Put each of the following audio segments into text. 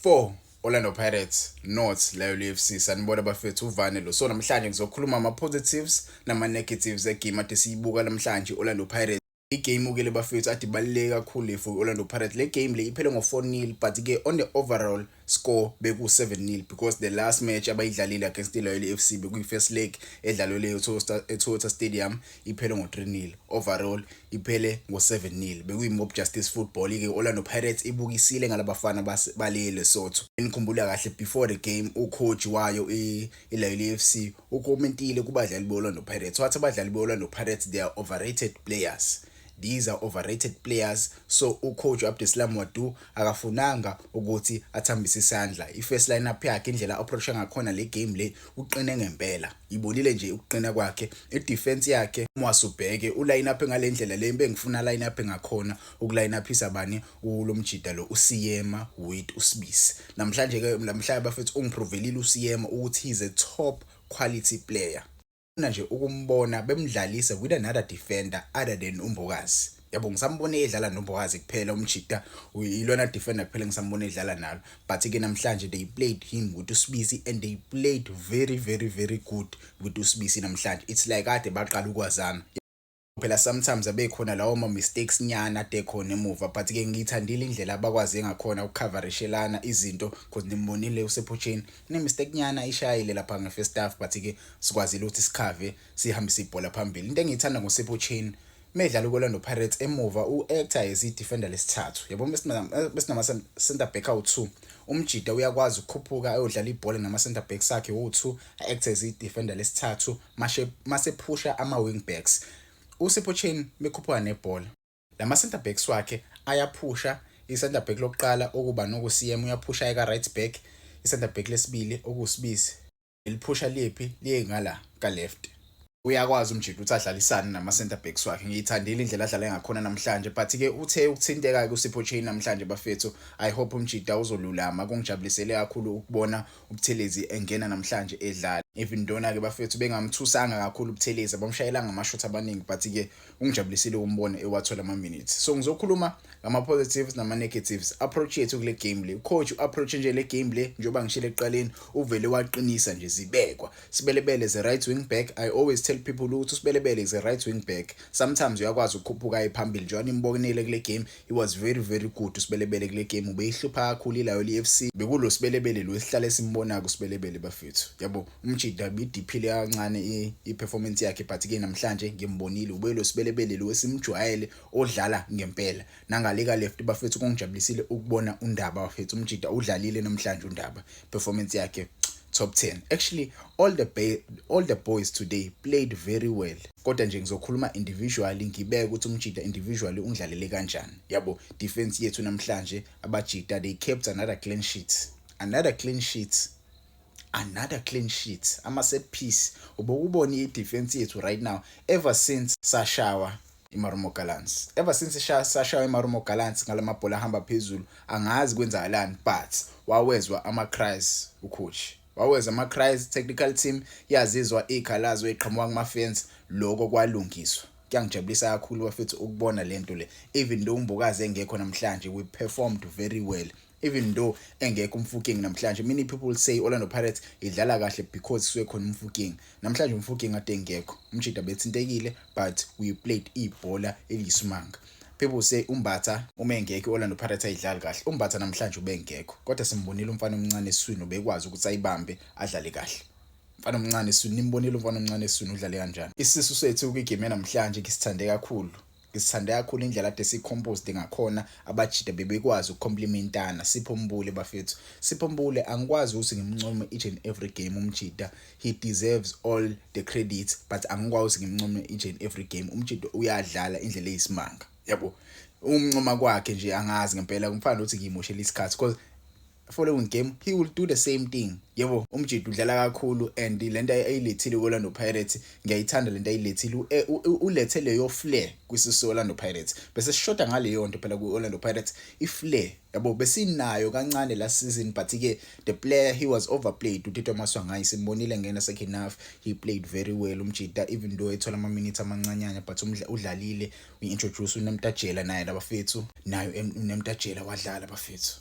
Four, Orlando Pirates, North, Lion FC, sanibona bafethu uvane lo. So namhlanje ngizokhuluma ama-positives nama-negatives egame ade siyibuka namhlanje i-Orlando Pirates. Igame-ke le bafethu ade ibaluleke kakhulu le for i-Orlando Pirates. Le game le iphele ngo-four nil but-ke on the overall score beku-seven nil because the last match abayidlalile against i-Loyal FC bekuyi-first leg edlalwe leyo eToyota Stadium iphele ngo-3 nil overall iphele ngo-7 nil bekuyi-mob justice football ke orlando pirates ibukisile ngalabafana bale lesotho enikhumbula kahle before the game ucoach wayo ilayile f c ukomentile kubadlali be-orlando pirates wathi abadlali be-orlando pirates they are overrated players These are overrated players so ucoach u-Abdeslam Ouaddou akafunanga ukuthi athambise isandla. I-first line-up yakhe indlela approacha ngakhona le game le uqine ngempela. Ibonile nje ukuqina kwakhe. I-defense yakhe uma wasubheke u-line-up ngale ndlela le bengifuna line-up ngakhona uku-line-uphisa bani ulo mjida lo uSiyema with uSibisi. Namhlanje-ke namhlanje bafethu ungiprovelile uSiyema ukuthi he's a top quality player. ngifuna nje ukumbona bemdlalise with another defender other than uMbokazi yabo ngisambone edlala noMbokazi kuphela umjita uyilona defender kuphela ngisambone edlala nalo but ke namhlanje they played him with uSibisi and they played very very very good with uSibisi namhlanje it's like kade baqala ukwazana phela sometimes abekhona lawo ma mistakes nyana adekhona emuva but ke ngiyithandile indlela abakwazi ngakhona ukucoverishelana izinto because nimbonile usephutsheni ne mistake nyana ishayile lapha nge first half but ke sikwazile ukuthi sikhave sihambise ibhola phambili into engiyithanda ngosephutsheni medlala uKorlando Pirates emuva u-actor as i-defender lesithathu yabo besinama-center back awu-two umjida uyakwazi ukukhuphuka ayodlala ibhola nama-center back sakhe wu-two a-actor as i-defender lesithathu mashe masephusha ama wing backs uSipho Chain bekhuphuka nebhola lama center backs wakhe ayaphusha i-center back lokuqala okuba nokuCM uyaphusha eka right back i-center back lesibili okusibizi liphusha liphi liye ngala ka left uyakwazi umjita ukuthi adlalisane nama-center backs wakhe ngiyithandile indlela adlale ngakhona namhlanje but-ke uthe ukuthinteka-ke usipho chain namhlanje bafethu i hope umjita uzolulama kungijabulisele kakhulu ukubona uButhelezi engena namhlanje edlala even dona ke bafethu bengamthusanga kakhulu uButhelezi abamshayela ngamashot abaningi but ke ungijabulisile ukumbona ewathola ama minutes so ngizokhuluma ngama positives nama negatives approach yethu kule game le coach approach nje le game le njoba ngishile eqaleni uvele waqinisa nje zibekwa sibelebele ze right wing back i always tell people ukuthi usibelebele ze right wing back sometimes uyakwazi ukukhuphuka ephambili njengoba nimbonile kule game It was very very good usibelebele kule game ubeyihlupha kakhulu ilayo leFC bekulo sibelebele lo esihlale esimbona ku sibelebele bafethu yabo umjida bidiphile kancane iperformance yakhe but ke namhlanje ngimbonile ube lo sibelebele lo esimjwayele odlala ngempela nangaleka left bafethu kongijabulisile ukubona undaba bafethu umjida udlalile namhlanje undaba performance yakhe top 10 actually all the all the boys today played very well kodwa nje ngizokhuluma individually ngibeke ukuthi umjita individually ungidlalele kanjani yabo defense yethu namhlanje abajita they kept another clean sheet another clean sheet another clean sheet ama set piece ubokubona i defense yethu right now ever since sashawa iMarumo Gallants ever since sashaya iMarumo Gallants ngalamabhola ahamba phezulu angazi kwenzakalani but wawezwa ama cries ucoach waweza ama cries technical team yazizwa ikhalazo eqhamuka kuma fans lokho kwalungiswa kuyangijabulisa kakhulu bafethu ukubona lento le even though umbokazi engekho namhlanje we performed very well even though engekho umfuking namhlanje many people say Orlando Pirates idlala kahle because suke khona umfuking namhlanje umfuking ade ngekho umjida bethintekile but we played ibhola eliyisimanga people say umbatha uma engekho Orlando Pirates ayidlali kahle umbatha namhlanje ubengekho kodwa simbonile umfana omncane eswini obekwazi ukuthi ayibambe adlale kahle mfana omncane eswini nimbonile umfana omncane eswini udlale kanjani isisu sethu kwigame namhlanje ngisithande kakhulu Ngisithande kakhulu indlela ade si-composed ngakhona abajida bebekwazi uku-complimentana Sipho Mbule bafethu Sipho Mbule angikwazi ukuthi ngimncome each and every game umjida he deserves all the credits but angikwazi ukuthi ngimncome each and every game umjida uyadlala indlela eyisimanga yabo umncoma kwakhe nje angazi ngempela kumfana ukuthi ngiyimoshela isikhathi because following game he will do the same thing yebo umjidi udlala kakhulu and lento ayilethile kwiOrlando Pirates ngiyayithanda lento ayilethile eh, ulethe leyo flair kwisisi Orlando Pirates bese sishoda ngaleyo nto phela kwiOrlando Pirates iflair yabo besinayo kancane last season but ke the player he was overplayed uTito Maswangayi simbonile ngena second half he played very well umjida even though ethola ama minutes amancanyana but udlalile we introduce uNemtajela naye labafethu nayo uNemtajela wadlala bafethu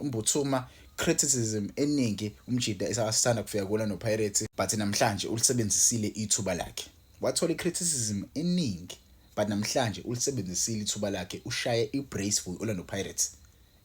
Umbuthuma criticism eningi umjida esasithanda kufika kuwona noPirates but namhlanje ulisebenzisile ithuba lakhe wathola icriticism eningi but namhlanje ulisebenzisile ithuba lakhe ushaye ibrace for Orlando Pirates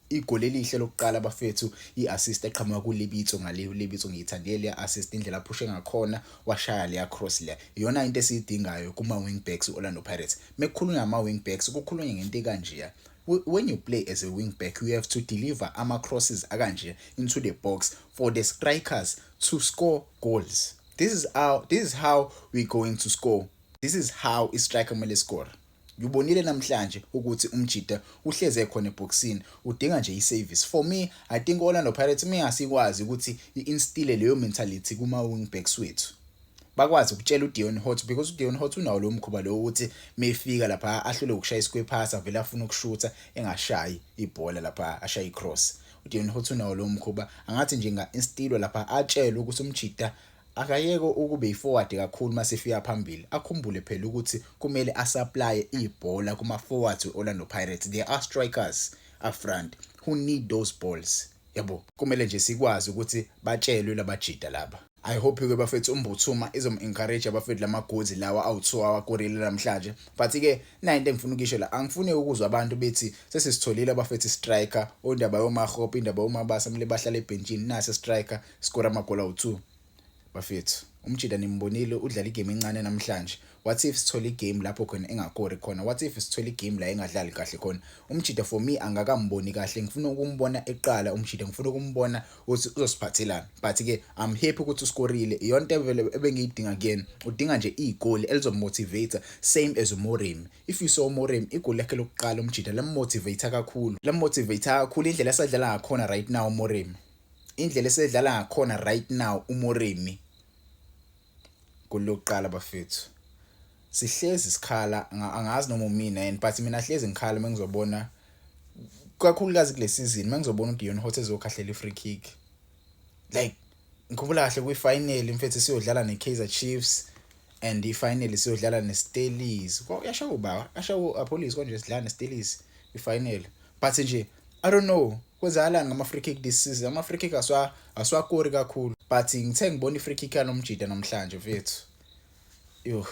igoli elihle lokuqala bafethu i-assist eqhamuka kulibitso ngale ulibitso ngiyithandile leya assist indlela aphushe ngakhona washaya leya cross leya iyona into esiyidingayo kuma wing backs u-Orlando Pirates mekukhulunywa ngama wing backs kukhulunywa ngento kanjeya when you play as a wing back you have to deliver ama crosses akanje into the box for the strikers to score goals this is how this is how we going to score this is how i striker kumele score ngibonile namhlanje ukuthi umjita uhleze khona eboxini udinga nje i-service for me i think orlando pirates uma ingasikwazi ukuthi i-instile leyo mentality kuma-wing backs wethu bakwazi ukutshela uDeon Hot because uDeon Hot unawo lo mkhuba lo ukuthi mefika lapha ahlule ukushaya isquare pass avele afuna ukushutha engashayi ibhola lapha ashaya icross uDeon Hot unawo lo mkhuba angathi nje nga instilo lapha atshelwe ukuthi umjida akayeke ukube yiforward kakhulu masifika phambili akhumbule phela ukuthi kumele asupply ibhola kuma forwards weOrlando Pirates they are strikers up front who need those balls Yabo, kumele nje sikwazi ukuthi batshelwe labajida laba. I hope ke bafethu umbuthuma izom encourage abafethu lamagozi lawa awuthiwa awakorile namhlanje but ke nayo into engifuna ukisho la angifuni ukuzwa abantu bethi sesisitholile abafethu striker ondaba yomahope indaba yomabasa mle bahlala ebhentshini nase striker skora amagoli awu2 Bafethu, umjita nimbonile udlala igame encane namhlanje. What if sithola igame lapho khona engakori khona? What if sithola igame la engadlali kahle khona? Umjita for me angakamboni kahle. Ngifuna ukumbona eqala umjita, ngifuna ukumbona ukuthi uzosiphathelani. But ke I'm happy ukuthi uskorile. Iyona into vele ebengiyidinga kuyena. Udinga nje igoli elizomotivate same as uMoremi. If you saw uMoremi igoli lakhe lokuqala umjita lammotivate kakhulu. Lammotivate kakhulu indlela esadlala ngakhona right now uMoremi. indlela esedlala ngakhona right now uMoremi kulokuqala bafethu sihlezi sikhala angazi noma umina and but mina hlezi ngikhala mengizobona kakhulukazi kule season mengizobona uDion Hot ezokhahlela ifree kick like ngikhumbula kahle kwi final mfethu siyodlala neKaizer Chiefs and ifinal siyodlala neStellies yasha ubaba yasha uApollis konje sidlala neStellies ifinal but nje i don't know Kwenzakalani ngama-free kick this season? Ama-free kick asiwakori kakhulu but ngithe ngibona i-free kick yanomjida namhlanje mfethu yoh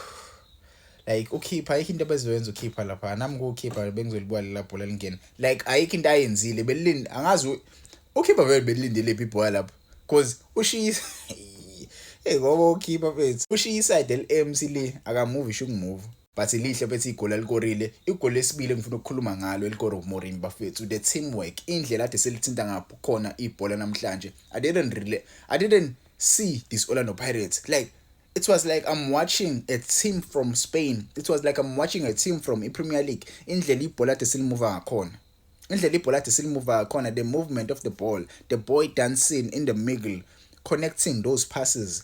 like ukhipha ayikho into abezoyenza ukhipha lapha nami kuwukhipha bengizolibuka lela bhola lingena like ayikho into ayenzile belilinde angazi ukhipha vele belilindele phi ibhola lapho cause ushiyisa hey ngoba ukhipha mfethu ushiya iside eli-mc le akamuvi isho ukumuva But lihle bethi igoli alikorile. Igoli lesibili engifuna ukukhuluma ngalo elikoro Morin bafethu the teamwork indlela ade selithinta ngapho khona ibhola namhlanje. I didn't really I didn't see this Orlando Pirates like it was like I'm watching a team from Spain. It was like I'm watching a team from iPremier League. Indlela ibhola ade selimuva ngakhona. Indlela ibhola ade selimuva ngakhona the movement of the ball, the boy dancing in the middle, connecting those passes.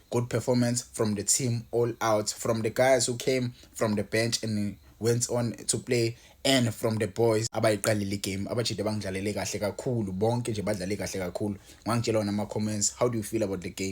Good performance from the team all out from the guys who came from the bench and went on to play and from the boys abayiqalile igame abajide bangidlalele kahle kakhulu bonke nje badlale kahle kakhulu ngangitshela wona ama-comments how do you feel about the game